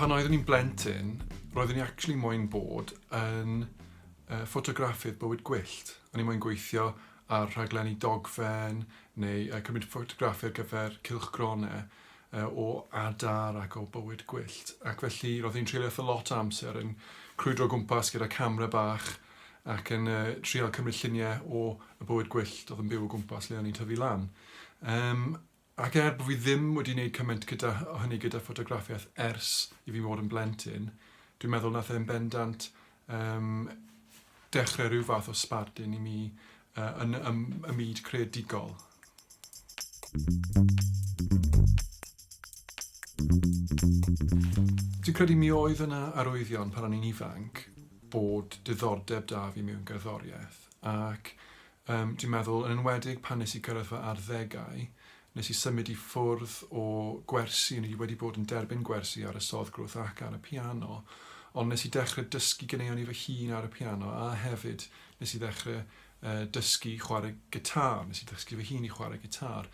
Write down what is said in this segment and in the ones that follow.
Pan oeddwn i'n blentyn, roeddwn i actually moyn bod yn uh, ffotograffi'r bywyd gwyllt. O'n i moyn gweithio ar rhaglenni dogfen neu uh, cymryd ffotograffi ar gyfer cylchgronau o adar ac o bywyd gwyllt ac felly roedd hi'n treulio eitha lot o amser yn crwydro o gwmpas gyda camera bach ac yn uh, trial cymryd lluniau o y bywyd gwyllt oedd yn byw o gwmpas lle o'n i'n tyfu lan. Um, ac er bod fi ddim wedi wneud cymaint gyda hynny gyda ffotograffiaeth ers i fi fod yn blentyn, dwi'n meddwl nath e'n bendant yn dechrau rhyw fath o sbardun i mi yn y myd creadigol. Dwi'n credu mi oedd yna arwyddion pan o'n i'n ifanc bod diddordeb 'da fi mewn gerddoriaeth ac dwi'n meddwl yn enwedig pan nes i cyrraedd fy arddegau Nes i symud i ffwrdd o gwersi, o'n i wedi bod yn derbyn gwersi ar y Sodd Grwth ac ar y piano, ond nes i dechrau dysgu ganeuon i fy hun ar y piano a hefyd nes i ddechrau yy dysgu chwarae gitâr, nes i ddysgu fy hun i chwarae gitâr.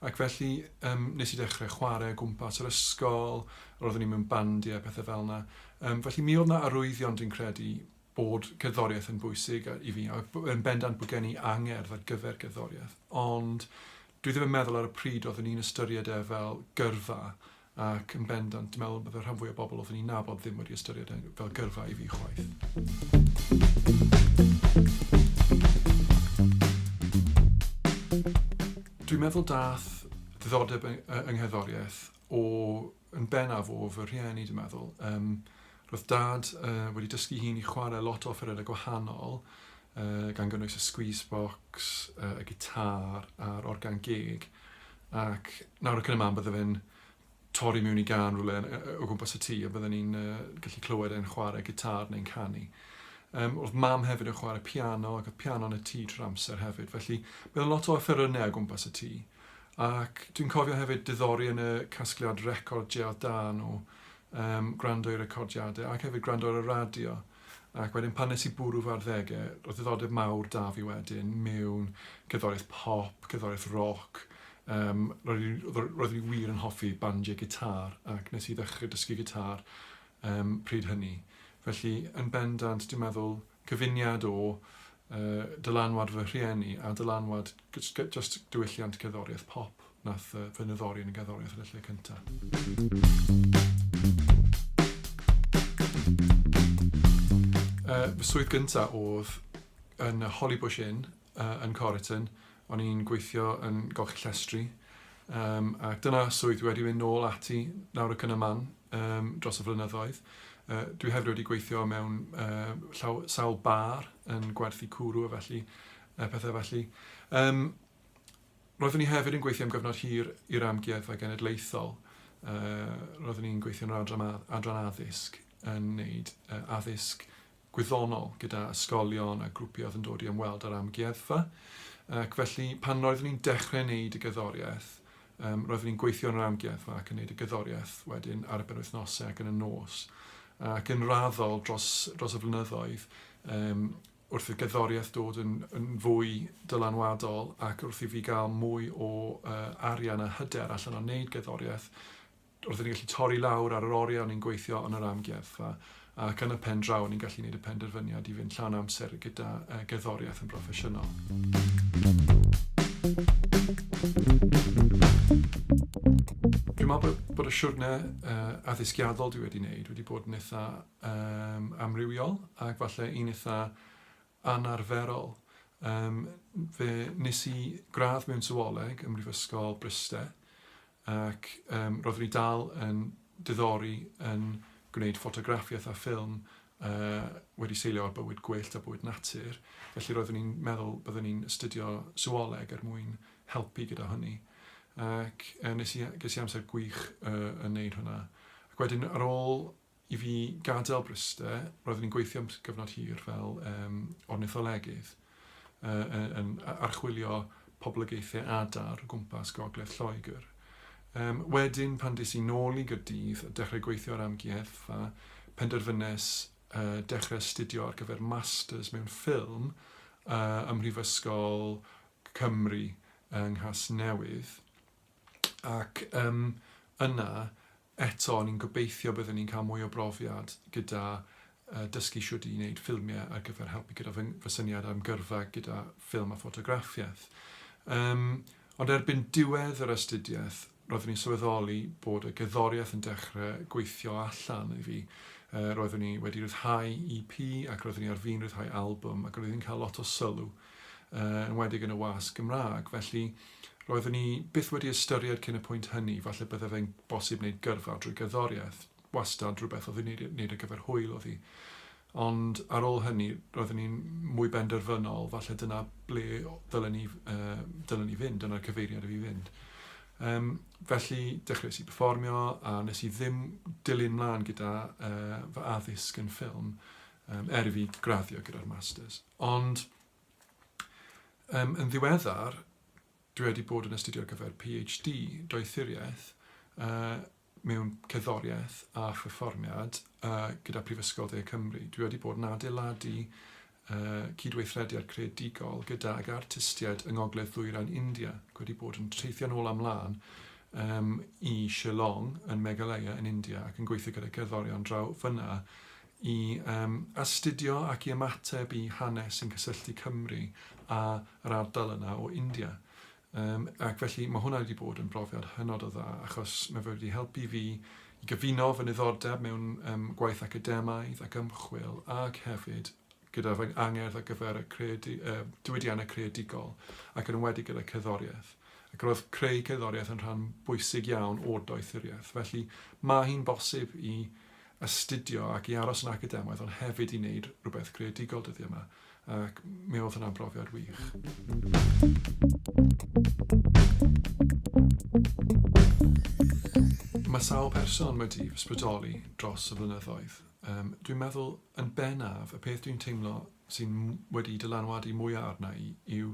Ac felly yym nes i dechrau chwarae o gwmpas yr ysgol, roeddwn i mewn bandiau a pethau fel yna. Yym felly mi oedd 'na arwyddion dwi'n credu bod cerddoriaeth yn bwysig a- i fi a b- yn bendant bod gen i angerdd ar gyfer gerddoriaeth, ond Dwi ddim yn meddwl ar y pryd oeddwn i'n ystyried e fel gyrfa ac yn bendant dwi'n meddwl bod y rhan fwy o bobl oeddwn i'n nabod ddim wedi ystyried e fel gyrfa i fi chwaith. Dwi'n meddwl daeth ddiddordeb yng yng ngherddoriaeth o yn bennaf o fy rhieni dwi'n meddwl. Um, roedd dad uh, wedi dysgu hi'n i chwarae lot o offerynnau gwahanol, uh, gan gynnwys y squeeze box, uh, y gitar a'r organ gig. Ac nawr y cyn y man bydde fe'n torri mewn i gan rhywle o gwmpas y tŷ a bydden ni'n uh, gallu clywed e'n chwarae gitar neu'n canu. Um, oedd mam hefyd yn chwarae piano ac oedd piano yn y tŷ trwy'r amser hefyd. Felly, byddai lot o offerynnau o gwmpas y tŷ. Ac dwi'n cofio hefyd diddori yn y casgliad record Jêl da nhw, um, gwrando i recordiadau ac hefyd gwrando ar y radio. Ac wedyn pan nes i bwrw fy arddegau, roedd ddiddordeb mawr da fi wedyn mewn cerddoriaeth pop, cerddoriaeth roc. Um, roeddwn i wir yn hoffi bandiau gitar ac nes i ddechrau dysgu gitar um, pryd hynny. Felly, yn bendant, dwi'n meddwl, cyfuniad o dylanwad fy rhieni a dylanwad jyst diwylliant gerddoriaeth pop nath fy nyddori yn y gerddoriaeth yn y lle cynta. Fy swydd gynta odd yn y Hollybush Inn yn Choriton, o'n i'n gweithio yn golchi llestri, um, ac dyna swydd dwi wedi mynd nôl ati nawr y cynna man um, dros y flynyddoedd. Uh, dwi hefyd wedi gweithio mewn uh, llaw, sawl bar yn gwerthu cwrw a felly, uh, pethau felly. Um, roeddwn i hefyd yn gweithio am gyfnod hir i'r amgueddfa genedlaethol. Uh, roeddwn i'n gweithio yn yr adran, adran addysg yn wneud uh, addysg gwyddonol gyda ysgolion a grwpiau oedd yn dod i ymweld â'r amgueddfa ac felly pan roeddwn i'n dechrau wneud y gerddoriaeth yym roeddwn i'n gweithio yn yr amgueddfa ac yn wneud y gerddoriaeth wedyn ar y benwythnosau ac yn y nos ac yn raddol dros dros y flynyddoedd yym wrth i'r gerddoriaeth dod yn yn fwy dylanwadol ac wrth i fi gael mwy o yy arian a hyder allan o wneud gerddoriaeth Roeddwn ni'n gallu torri lawr ar yr oriau o'n ni'n gweithio yn yr amgueddfa ac yn y pen draw o'n ni'n gallu gwneud y penderfyniad i fynd llawn amser gyda gerddoriaeth yn broffesiynol. Dwi'n meddwl bod y siwrne addysgiadol dwi wedi wneud wedi bod yn eitha amrywiol ac falle un eitha anarferol. Yym fe nes i gradd mewn Sywioleg ym Mhrifysgol Bryste ac yym roeddwn i dal yn diddori yn gwneud ffotograffiaeth a ffilm yy wedi seilio ar bywyd gwyllt a bywyd natur, felly roeddwn i'n meddwl byddwn i'n astudio Sywioleg er mwyn helpu gyda hynny ac yy nes i ges i amser gwych yy yn wneud hwnna ac wedyn ar ôl I fi gadael Bryste, roeddwn i'n gweithio am gyfnod hir fel um, ornitholegydd, uh, yn archwilio poblogaethau adar o gwmpas gogledd Lloegr. Um, wedyn, pan des i nôl i Gyrdydd a dechrau gweithio ar amgueddfa, penderfynes uh, dechrau astudio ar gyfer masters mewn ffilm uh, ym Mhrifysgol Cymru yng Nghas Newydd. Ac um, yna, Eto, ni'n gobeithio bydden ni'n cael mwy o brofiad gyda dysgu shwt i wneud ffilmiau ar gyfer helpu gyda fy fy syniad am gyrfa gyda ffilm a ffotograffiaeth. Yym, ond erbyn diwedd yr astudiaeth, roeddwn i'n sylweddoli bod y gerddoriaeth yn dechrau gweithio allan i fi. Yy, roeddwn i wedi rhyddhau EP ac roeddwn i ar fin rhyddhau albwm ac roeddwn i'n cael lot o sylw. uh, yn wedig yn y wasg Gymraeg, felly roeddwn ni byth wedi ystyried cyn y pwynt hynny, falle bydde fe'n bosib wneud gyrfa drwy gerddoriaeth, wastad rhywbeth oedd wneud, wneud ar gyfer hwyl oedd hi. Ond ar ôl hynny, roeddwn ni'n mwy benderfynol, falle dyna ble dylen ni, uh, dylen ni fynd, dyna'r cyfeiriad i fi fynd. Um, felly, dechreuais i performio a nes i ddim dilyn mlaen gyda uh, fy addysg yn ffilm, um, er i fi graddio gyda'r Masters. Ond um, yn ddiweddar, dwi wedi bod yn astudio ar gyfer PhD doethuriaeth uh, mewn cerddoriaeth a pherfformiad uh, gyda Prifysgol Dde Cymru. Dwi wedi bod yn adeiladu uh, cydweithrediad creadigol gydag artistiaid yng Ngogledd Ddwyrain India. Dwi wedi bod yn teithio'n ôl amlaen um, i Shillong yn Meghalaya yn India ac yn gweithio gyda cerddorion draw fyna i astudio ac i ymateb i hanes sy'n cysylltu Cymru a yr ardal yna o India. Yym ac felly mae hwnna wedi bod yn brofiad hynod o dda achos mae fe wedi helpu fi i gyfuno fy niddordeb mewn yym gwaith academaidd ac ymchwil ac hefyd gyda fy angerdd ar gyfer y creadu, uh, diwydiannau creadigol, ac yn enwedig gyda cerddoriaeth. Ac roedd creu cerddoriaeth yn rhan bwysig iawn o'r doethuriaeth. Felly, mae hi'n bosib i astudio ac i aros yn academaidd, ond hefyd i wneud rhywbeth creadigol dyddiau yma. Ac mi oedd hwnna'n brofiad wych. Mae sawl person wedi ysbrydoli dros y flynyddoedd. Yym, dwi'n meddwl, yn bennaf, y peth dwi'n teimlo sy'n wedi dylanwadu mwyaf arna i yw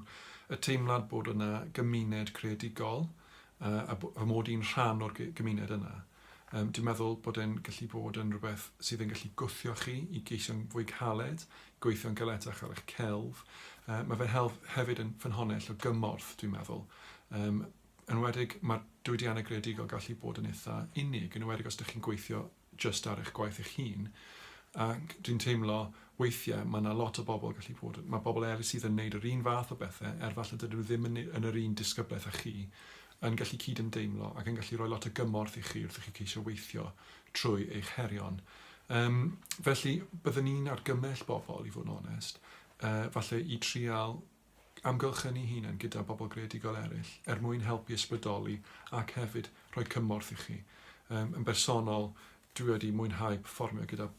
y teimlad bod yna gymuned creadigol uh, a, a mod i'n rhan o'r gymuned yna. Um, dwi'n meddwl bod e'n gallu bod yn rhywbeth sydd yn gallu gwthio chi i geisio'n fwy caled, gweithio'n galetach ar eich celf. Uh, mae fe'n help hefyd yn ffynhonnell o gymorth, dwi'n meddwl. Um, yn wedig, mae'r diwydiannau greadigol gallu bod yn eitha unig, yn wedig os ydych chi'n gweithio jyst ar eich gwaith eich hun, ac dwi'n teimlo weithiau mae yna lot o bobl gallu bod yn... mae bobl eraill sydd yn wneud yr un fath o bethau, er falle dydyn nhw ddim yn ne- yn yr un disgyblaeth â chi, yn gallu cydymdeimlo ac yn gallu rhoi lot o gymorth i chi wrth i chi ceisio weithio trwy eich herion. Yym, felly, byddwn i'n argymell bobl, i fod yn onest, yy, falle i trial amgylchynu hunain gyda bobl greadigol eraill er mwyn helpu ysbrydoli ac hefyd rhoi cymorth i chi. Yym yn bersonol dwi wedi mwynhau perfformio gyda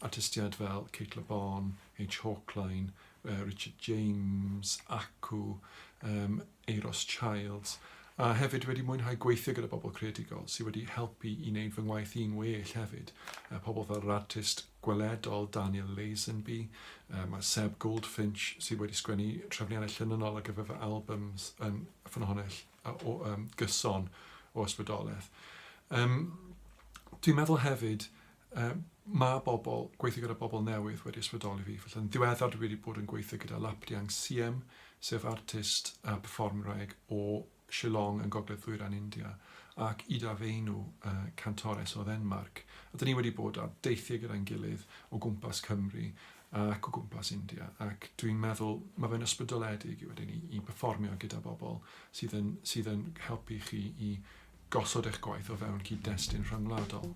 artistiaid fel Cate Le Bon, H Hawkline, yy Richard James, Acw, yym Euros Childs a hefyd wedi mwynhau gweithio gyda bobl creadigol sy wedi helpu i wneud fy ngwaith i'n well hefyd, yy pobl fel yr artist gweledol Daniel Lazenby, yy ma' Seb Goldfinch sydd wedi sgwennu trefniannau llinynnol ar gyfer fy albums yn ffynhonnell a- o yym gyson o ysbrydoleth. Yym dwi'n meddwl hefyd yy ma' bobl, gweithio gyda bobl newydd wedi ysbrydoli fi, felly yn ddiweddar dwi wedi bod yn gweithio gyda Lapdiang Siem, sef artist a perfformwraig o Shillong yn gogledd ddwyrain India, ac Ida Veinu, cantores o Ddenmarc, a dan ni wedi bod ar deithiau gyda'n gilydd o gwmpas Cymru ac o gwmpas India, ac dwi'n meddwl mae fe'n ysbrydoledig wedyn ni i berfformio gyda bobl sydd yn sydd yn helpu chi i gosod eich gwaith o fewn cyd-destun rhyngwladol.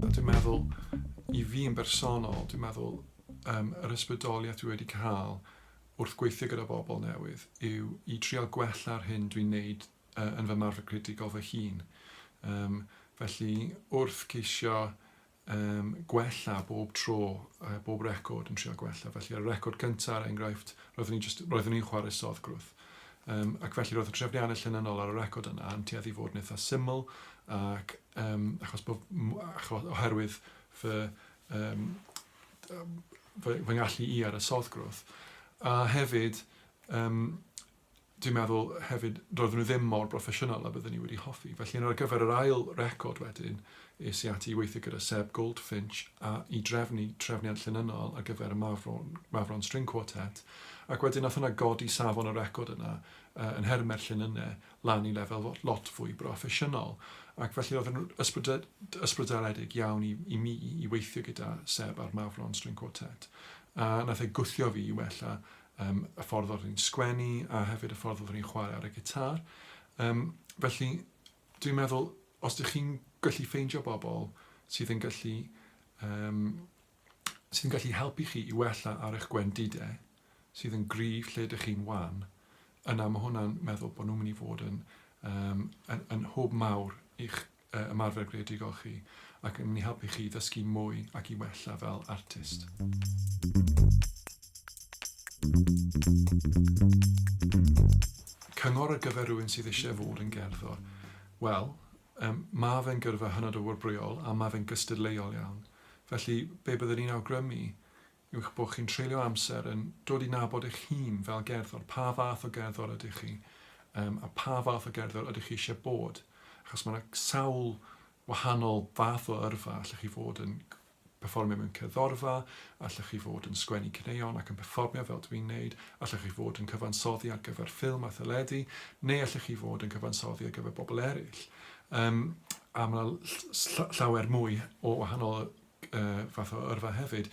Dwi'n meddwl, i fi yn bersonol, dwi'n meddwl um, yr ysbrydoliaeth dwi wedi cael wrth gweithio gyda bobl newydd yw i trial gwella'r hyn dwi'n neud uh, yn fy marfer creadigol fy hun. Um, felly, wrth ceisio um, gwella bob tro, uh, bob record yn trial gwella. Felly, ar y record cyntaf, ar er enghraifft, roeddwn i'n just, roeddwn i'n chwarae soddgrwth. Um, ac felly roedd y trefniannau llunanol ar y record yna yn tueddu fod yn eitha syml ac um, achos bod, achos, oherwydd fy um, fy ngallu i ar y soddgrwth. A hefyd, um, dwi'n meddwl hefyd, roedden nhw ddim mor broffesiynol a byddwn ni wedi hoffi. Felly, yn ar gyfer yr ail record wedyn, es i ati i weithio gyda Seb Goldfinch a i drefnu trefniad llynynnol ar gyfer y Mafron, Mafron String Quartet. Ac wedyn, nath hwnna godi safon y record yna uh, yn hermer llynynnau lan i lefel lot fwy broffesiynol, ac felly oedd yn ysbrydoledig iawn i, i mi i weithio gyda Seb a'r Mawrlon String Quartet, a nath e gwthio fi i wella um, y ffordd oeddwn i'n sgwennu a hefyd y ffordd oeddwn i'n chwarae ar y gitar. Um, felly, dwi'n meddwl, os ydych chi'n gallu ffeindio bobl sydd yn gallu um, sy'n gallu helpu chi i wella ar eich gwendide sydd yn gryf lle dych chi'n wan, yna mae hwnna'n meddwl bod nhw'n mynd i fod yn, um, yn, yn hwb mawr i'ch uh, ymarfer greadigol chi ac yn mynd i helpu chi ddysgu mwy ac i wella fel artist. Cyngor ar gyfer rhywun sydd eisiau fod yn gerddor. Wel, um, mae fe'n gyrfa hynod o wrbrwyol a mae fe'n gystadleuol iawn. Felly, be byddwn i'n awgrymu yw eich bod chi'n treulio amser yn dod i nabod eich hun fel gerddor, pa fath o gerddor ydych chi, um, a pa fath o gerddor ydych chi eisiau bod. Achos mae yna sawl wahanol fath o yrfa, allech chi fod yn perfformio mewn cerddorfa, allech chi fod yn sgwennu cneuon ac yn perfformio fel dwi'n neud, allech chi fod yn cyfansoddi ar gyfer ffilm a theledu, neu allech chi fod yn cyfansoddi ar gyfer bobl eraill. Yym a ma' 'na ll- ll- ll- llawer mwy o wahanol yy yy fath o yrfa hefyd.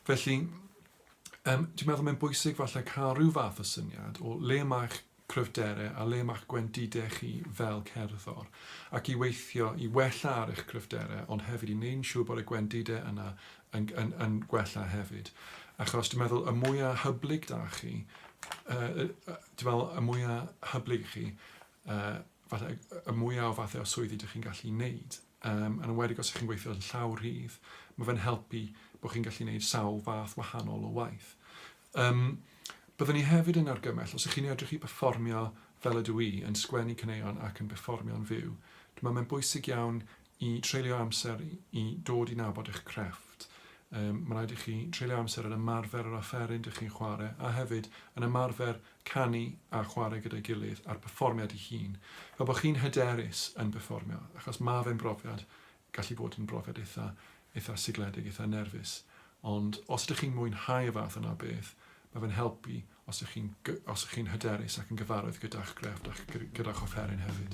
Felly yym dwi'n meddwl mae'n bwysig falle ca'l ryw fath o syniad o le ma'ch cryfdere a le ma'ch gwendide chi fel cerddor, ac i weithio i wella ar eich cryfdere ond hefyd i neu'n siŵr bod y gwendide yna yn g- yn yn gwella hefyd. Achos dwi'n meddwl y mwya hyblyg 'da chi yy yy yy dwi me'wl y mwya hyblyg chi uh, falle, y mwyaf o fathau o swyddi ydych chi'n gallu wneud, um, yn enwedig os ydych chi'n gweithio yn llaw rhydd, mae fe'n helpu bod chi'n gallu wneud sawl fath wahanol o waith. Um, byddwn ni hefyd yn argymell, os ydych chi'n edrych i berfformio fel ydw i, yn sgwennu caneuon ac yn berfformio'n fyw, dwi'n meddwl mae'n bwysig iawn I treulio amser i dod i nabod eich crefft, mae'n rhaid i chi treulio amser yn ymarfer yr offeryn dych chi'n chwarae a hefyd yn ymarfer canu a chwarae gyda'i gilydd a'r perfformiad ei hun, fel bod chi'n hyderus yn perfformio, achos mae fe'n brofiad, gallu bod yn brofiad eitha, eitha sigledig, eitha nerfus, ond os ydych chi'n mwynhau y fath yna o beth, mae fe'n helpu Os ych chi'n os ych chi'n hyderus ac yn gyfarwydd gyda'ch grefft a'ch gyda'ch offeryn hefyd.